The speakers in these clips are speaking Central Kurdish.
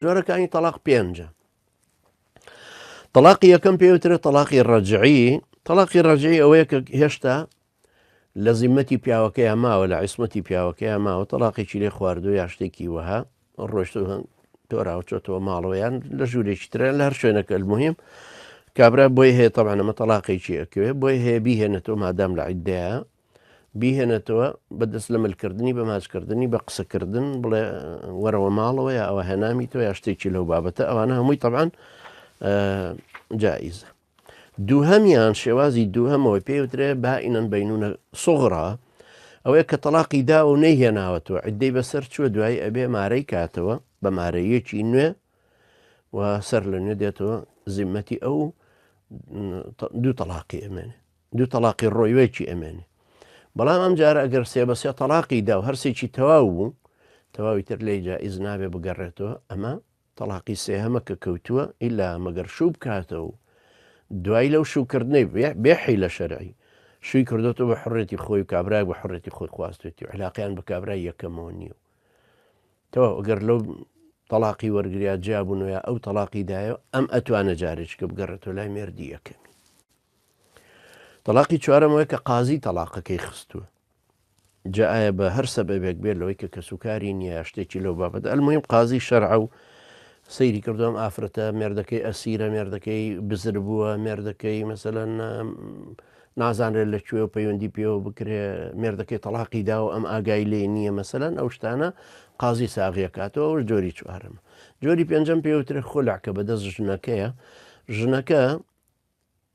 جۆرەکانی تەڵاق پێنجە تەلاقی یەکەم پێوترێت تەلاقی ڕەجعی تەلاقی ڕەجعی ئەوەیە کە هێشتا لە زیمەتی پیاوەکەیان ماوە لە عیسمەتی پیاوەکەیان ماوە تەلاقێکی لێ خواردو یا شتێکی وەها ڕۆشت هەنگ تۆراوچۆتەوە ماڵەوەیان لە ژوورێکی ترە لە هەر شوێنەکە المهم کابرا بۆی هەیە تەبانەمە تەلاقێکی ئەکوێ بۆی هەیە بیهێنێتەوە مادام لە عیددەیە بیهێنێتەوە بە دەست لە ملکردنی بە ماچکردنی بە قسەکردن بڵێ وەرەوە ماڵەوە یا ئەوە هێنامیتەوە یا شتێکی لەو بابەتە ئەوانە هەمووی تەبان جائیزە دووهەمیان شێوازی دووهەمەوە پێوترێ بائینەن بینونە سوغرا ئەوەیە کە تەلاقی دا و نەیهێناوەتەوە عدەی بەسەر چووە دوای ئەبێ مارەی کاتەوە بە مارەیەکی نوێ و سەر لە نوێ دێتەوە زیمەتی ئەو دوو تەلاقی ئەمێنێ دوو تەڵاقی ڕۆیوەکی ئەمێنێ بەڵام ئەم جارە ئەگەر سێ بە سێ تەڵاقی دا و هەرسێکی تەواو بوو تەواوی تر لێ جائز نابێ بگەڕێتەوە ئەمە تەڵاقی سێهەمە کە کەوتووە ئیلا مەگەر شوو بکاتەوە و دوای لەو شوکردنەی بێحی لە شەرعی شووی کردوەوە بە حڕێتی خۆی و کابراای بە حڕێتی خۆی خواستێتی و علاقیان بە کابرای یەکەمەوە نییە و تەوا ئەگەر لەو تەلاقی وەرگریا جیابوونەوە ئەو تەلاقی دایە ئەم ئەتوانە جارێککە بگەڕێتەوە لای مردی یەکەمی تەڵاقی چوارەم ئەوەیە کە قازی تەڵاقەکەی خستووە جا ئایا بە هەر سەبەبێک بێت لەوەی کە کەسوکاری نییە شتێکی لەو بابەت ئەلمیم قازی شەرعە و سەیری کردوم ئافرەتە مێردەکەی ئەسیرە مێردەکەی بزر بووە مێردەکەی مەسەەن نازانرێت لە کوێ و پەیوەندی پێوە بکرێ مێردەکەی تەلاقی دا و ئەم ئاگای لێ نییە مەسەەن ئەو شتانە قازی ساغیەکاتەوە ئەو جۆری چوارم جۆری پێنجەم پێوترێ خۆلاکە بەدەست ژنەکەیە ژنەکە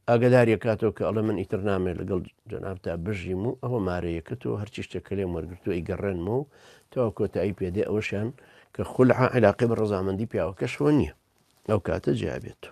ئاگەداری ئەکاتەوە کە ئەڵێ من ئیتر نامێ لەگەڵ جەنابتا بژیم و ئەوە مارەیەکەت و هەرچی شتێک کە لێم وەرگرتو ئەی گەڕێنمەوە و تەوا کۆتایی پێدێ ئەوەشیان کە خولعە علاقی بە ڕزامەندی پیاوەکەشەوە نییە ئەو کاتە جیابێت و